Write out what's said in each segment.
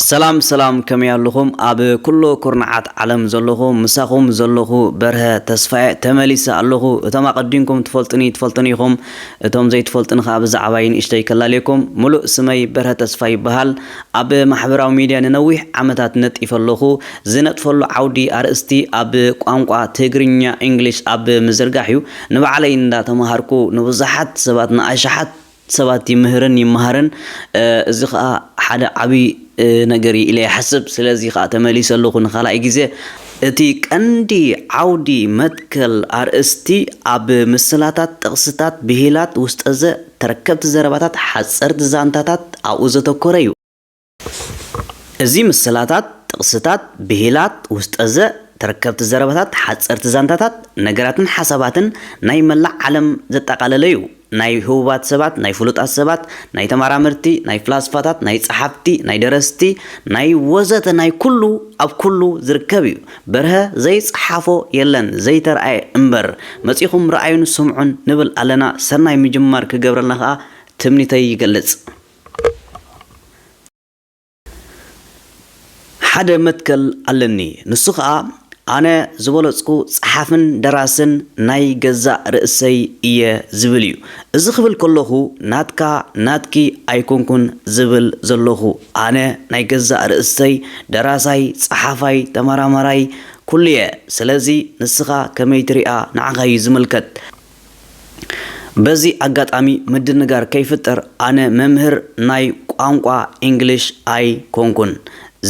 ሰላም ሰላም ከመይ ኣሉኹም ኣብ ኩሉ ኩርናዓት ዓለም ዘለኹም ምሳኹም ዘለኹ በርሀ ተስፋየ ተመሊሰ ኣለኹ እቶም ኣቐዲምኩም ትፈልጡኒ ትፈልጡኒ ኢኹም እቶም ዘይትፈልጡኒ ከኣ ብዛዕባይ ንእሽተይ ከላልየኩም ምሉእ ስመይ በርሀ ተስፋይ ይበሃል ኣብ ማሕበራዊ ሚድያ ንነዊሕ ዓመታት ነጢፈ ኣለኹ ዝነጥፈሉ ዓውዲ ኣርእስቲ ኣብ ቋንቋ ትግርኛ ኢንግሊሽ ኣብ ምዝርጋሕ እዩ ንባዕለይ እንዳተማሃርኩ ንብዙሓት ሰባት ንኣሽሓት ሰባት ይምህርን ይመሃርን እዚ ከኣ ሓደ ዓቢ ነገር እዩ ኢለ ይሓስብ ስለዚ ከኣ ተመሊሰ ኣለኩ ንካልኣይ ግዜ እቲ ቀንዲ ዓውዲ መትከል ኣርእስቲ ኣብ ምስላታት ጥቅስታት ብሂላት ውስጠዘ ተረከብቲ ዘረባታት ሓጸርቲ ዛንታታት ኣብኡ ዘተኮረ እዩ። እዚ ምስላታት፣ ጥቕስታት፣ ብሂላት፣ ውስጠዘ፣ ተረከብቲ ዘረባታት፣ ሓጸርቲ ዛንታታት፣ ነገራትን ሓሳባትን ናይ መላእ ዓለም ዘጠቓለለ'ዩ። ናይ ህቡባት ሰባት፣ ናይ ፍሉጣት ሰባት፣ ናይ ተመራመርቲ፣ ናይ ፍላስፋታት፣ ናይ ጸሓፍቲ፣ ናይ ደረስቲ፣ ናይ ወዘተ ናይ ኩሉ ኣብ ኩሉ ዝርከብ'ዩ። በርሀ ዘይጸሓፎ የለን ዘይተርኣየ እምበር። መጺኹም ርኣዩን ስምዑን ንብል ኣለና። ሰናይ ምጅማር ክገብረልና ከኣ ትምኒተይ ይገልጽ። ሓደ መትከል ኣለኒ ንሱ ከኣ ኣነ ዝበለጽኩ ጸሓፍን ደራስን ናይ ገዛእ ርእሰይ እየ ዝብል እዩ። እዚ ክብል ከለኹ ናትካ ናትኪ ኣይኮንኩን ዝብል ዘለኹ ኣነ ናይ ገዛእ ርእሰይ ደራሳይ ጸሓፋይ ተመራማራይ ኩሉየ ስለዚ ንስኻ ከመይ ትሪኣ ንዓኻዩ ዝምልከት። በዚ ኣጋጣሚ ምድንጋር ከይፍጠር ኣነ መምህር ናይ ቋንቋ ኢንግሊሽ ኣይ ኮንኩን።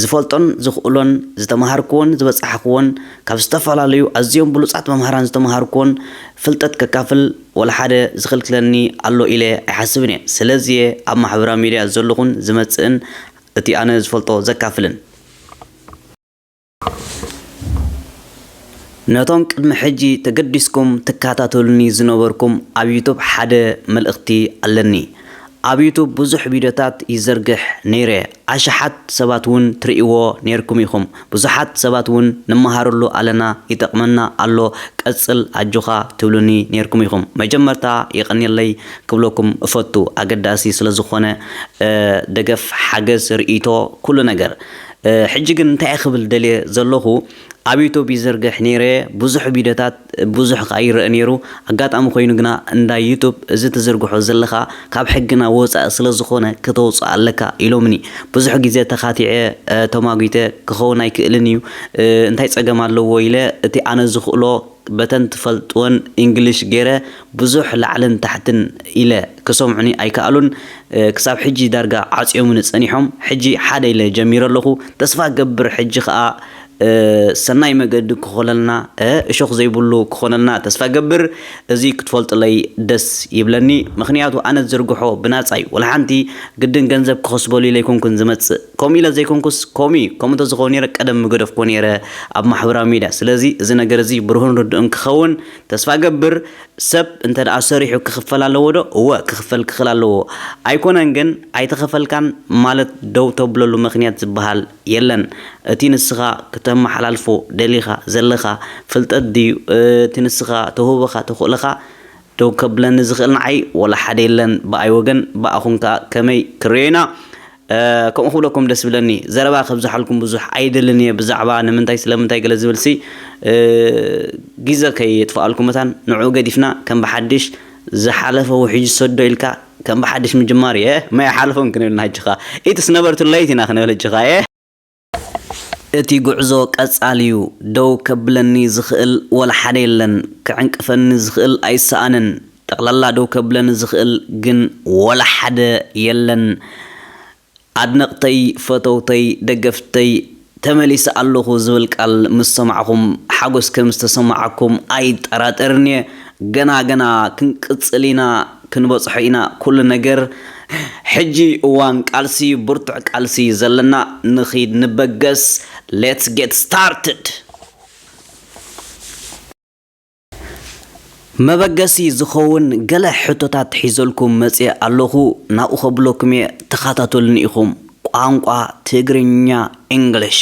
ዝፈልጦን ዝኽእሎን ዝተመሃርኩዎን ዝበጻሕኩዎን ካብ ዝተፈላለዩ ኣዝዮም ብሉጻት መምህራን ዝተመሃርኩዎን ፍልጠት ከካፍል ወላ ሓደ ዝኽልክለኒ ኣሎ ኢለ ኣይሓስብን እየ። ስለዚ'የ ኣብ ማሕበራዊ ሚድያ ዘለኹን ዝመጽእን እቲ ኣነ ዝፈልጦ ዘካፍልን። ነቶም ቅድሚ ሕጂ ተገዲስኩም ትካታተሉኒ ዝነበርኩም ኣብ ዩቱብ ሓደ መልእክቲ ኣለኒ ኣብ ዩቱብ ብዙሕ ቪድዮታት ይዘርግሕ ነይረ ኣሽሓት ሰባት ውን ትርእይዎ ነይርኩም ኢኩም ብዙሓት ሰባት ውን ንመሃረሉ ኣለና ይጠቅመና ኣሎ ቀጽል ኣጆካ ትብሉኒ ነይርኩም ኢኩም መጀመርታ የቀንየለይ ክብለኩም እፈቱ ኣገዳሲ ስለ ዝኮነ ደገፍ ሓገዝ ርእይቶ ኩሉ ነገር ሕጂ ግን እንታይ ክብል ደልየ ዘለኩ ኣብ ዩቶብ ይዝርግሕ ነይረ ቡዙሕ ቪዶታት ቡዙሕ ከኣ ይረእ ነይሩ ኣጋጣሚ ኮይኑ ግና እንዳ ዩቶብ እዚ ትዝርግሖ ዘለካ ካብ ሕግና ወጻኢ ስለ ዝኮነ ከተውጽኦ ኣለካ ኢሎምኒ ቡዙሕ ግዜ ተካቲዐ ተማጉተ ክከውን ኣይክእልን እዩ እንታይ ጸገም ኣለዎ ኢለ እቲ ኣነ ዝክእሎ በተን ትፈልጥወን ኢንግልሽ ገይረ ቡዙሕ ላዕልን ታሕትን ኢለ ክሰምዑኒ ኣይከኣሉን ክሳብ ሕጂ ዳርጋ ዓጽዮሙኒ ጸኒሖም ሕጂ ሓደ ኢለ ጀሚረ ኣለኹ ተስፋ እገብር ሕጂ ከኣ ሰናይ መገዲ ክኾለልና እሾኽ ዘይብሉ ክኾነልና ተስፋ እገብር እዚ ክትፈልጡለይ ደስ ይብለኒ ምኽንያቱ ኣነ ዝዝርግሖ ብናጻ እዩ ወላሓንቲ ግድን ገንዘብ ክኸስበሉ ኢለ ኣይኮንኩን ዝመጽእ ከምኡ ኢለ ዘይኮንኩስ ኮሚ ከምኡ እንተዝኸውን ነይረ ቀደም ምገደፍኩዎ ነይረ ኣብ ማሕበራዊ ሚድያ ስለዚ እዚ ነገር እዚ ብሩህን ርዱእን ክኸውን ተስፋ እገብር ሰብ እንተ ደኣ ሰሪሑ ክኽፈል ኣለዎ ዶ? እወ ክኽፈል ክኽል ኣለዎ። ኣይኮነን ግን ኣይተኸፈልካን ማለት ደው ተብለሉ መኽንያት ዝበሃል የለን። እቲ ንስኻ ክተመሓላልፎ ደሊኻ ዘለኻ ፍልጠት ድዩ እቲ ንስኻ ተውህቦኻ ተኽእሎኻ ደው ከብለኒ ዝኽእል ንዓይ ወላ ሓደ የለን ብኣይ ወገን ብኣኹም ከኣ ከመይ ክንርእዮ ኢና ከምኡ ክብለኩም ደስ ብለኒ ዘረባ ከብዝሓልኩም ብዙሕ ኣይደልን እየ ብዛዕባ ንምንታይ ስለምንታይ ገለ ዝብልሲ ግዘ ከየጥፍኣልኩም መታን ንዕኡ ገዲፍና ከም ብሓድሽ ዝሓለፈ ውሕጅ ሰዶ ኢልካ ከም ብሓድሽ ምጅማር እየ ማይ ሓለፎም ክንብል ንሃጅኻ ኢትስ ነበርቱ ለይት ኢና ክንብል ህጅኻ እየ እቲ ጉዕዞ ቀጻሊ'ዩ፣ ደው ከብለኒ ዝኽእል ወላ ሓደ የለን፣ ክዕንቅፈኒ ዝኽእል ኣይሰኣንን፣ ጠቕላላ ደው ከብለኒ ዝኽእል ግን ወላ ሓደ የለን፣ ኣድነቕተይ፣ ፈተውተይ፣ ደገፍተይ፣ ተመሊሰ ኣለኹ ዝብል ቃል ምስ ሰማዕኹም ሓጎስ ከም ዝተሰማዓኩም ኣይጠራጠርን'የ፣ ገና ገና ክንቅጽል ኢና፣ ክንበጽሖ ኢና ኩሉ ነገር። ሕጂ እዋን ቃልሲ ዩ ብርቱዕ ቃልሲ ዩ ዘለና ንኺድ ንበገስ let's get started። መበገሲ ዝኸውን ገለ ሕቶታት ሒዘልኩም መጽየ ኣለኹ ናብኡ ከብለኩም እየ ተኻታተሉኒ ኢኹም ቋንቋ ትግርኛ English።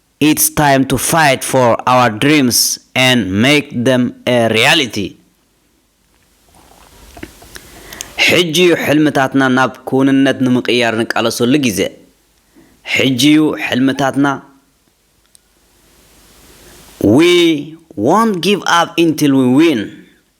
ኢትስ ታይም ቱ ፋይት ፎር ኣወር ድሪምስ ኤንድ ሜክ ደም ኤ ሪያሊቲ ሕጂ ዩ ሕልምታትና ናብ ክውንነት ንምቅያር ንቃለሰሉ ግዜ ሕጂ ዩ ሕልምታትና We won't give up until we win!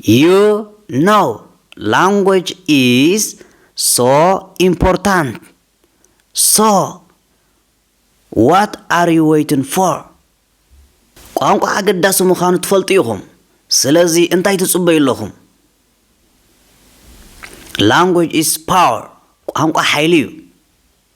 ዩ ኖው ላንጎጅ ኢዝ ሶ ኢምፖርታንት ሶ ዋት ኣር ዩ ወይትን ፎር ቋንቋ ኣገዳሲ ምዃኑ ትፈልጡ ኢኹም ስለዚ እንታይ ትጽበዩ ኣለኹም ላንጎጅ ኢዝ ፓወር ቋንቋ ሓይሊ ዩ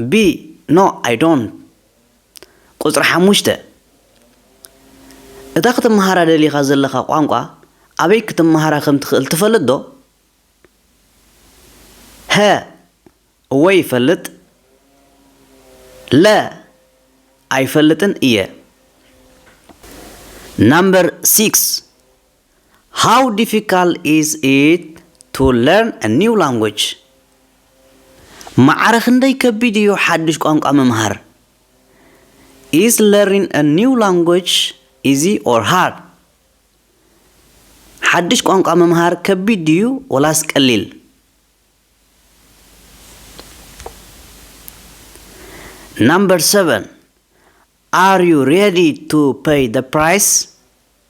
ብ No I don't ቁጽሪ ሓሙሽተ እታ ክትመሃራ ደሊኻ ዘለኻ ቋንቋ ኣበይ ክትመሃራ ከም ትኽእል ትፈልጥ ዶ? ሀ እወ ይፈልጥ ለ ኣይፈልጥን እየ ናምበር ሲክስ። ሃው ዲፊካል ኢዝ ኢት ቱ ለርን እ ኒው ላንጉጅ? ማዕረ ክንደይ ከቢድ እዩ ሓዱሽ ቋንቋ ምምሃር? ኢዝ ለርኒን እ ኒው ላንጉጅ ኢዚ ኦር ሃርድ? ሓዱሽ ቋንቋ ምምሃር ከቢድ ድዩ ወላስ ቀሊል? ናምበር ሰቨን ኣር ዩ ሬዲ ቱ ፐይ ዘ ፕራይስ?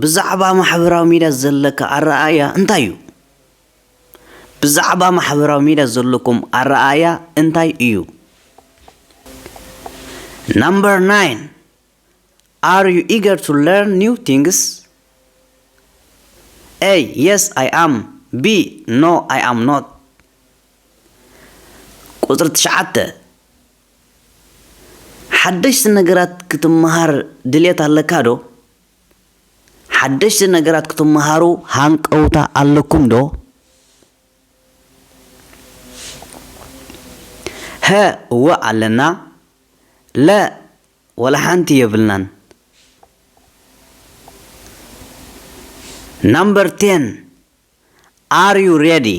ብዛዕባ ማሕበራዊ ሚድያ ዘለካ ኣረኣእያ እንታይ እዩ? ብዛዕባ ማሕበራዊ ሚድያ ዘለኩም ኣረኣእያ እንታይ እዩ? Number nine Are you eager to learn new things? A. Yes, I am. B. No, I am not. ቁፅሪ ትሽዓተ ሓደሽቲ ነገራት ክትመሃር ድሌት ኣለካ ዶ? ሓደሽቲ ነገራት ክትመሃሩ ሃንቀውታ ኣለኩም ዶ? ሀ፣ እወ ኣለና። ለ፣ ዋላ ሓንቲ የብልናን። Number ten፣ Are you ready?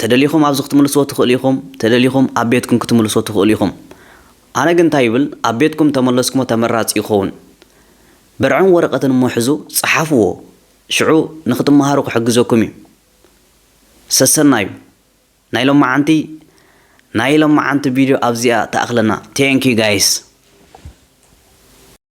ተደሊኹም ኣብዚ ክትምልስዎ ትኽእሉ ኢኹም፣ ተደሊኹም ኣብ ቤትኩም ክትምልስዎ ትኽእሉ ኢኹም። ኣነ ግን እንታይ ይብል ኣብ ቤትኩም እንተመለስኩሞ ተመራጺ ይኸውን። ብርዕን ወረቐትን እሞ ሕዙ ጸሓፍዎ ሽዑ ንኽትመሃሩ ክሕግዘኩም እዩ። ሰሰናዩ ናይ ሎማዓንቲ ናይ ሎማዓንቲ ቪድዮ ኣብዚኣ ትኣኽለና Thank you guys።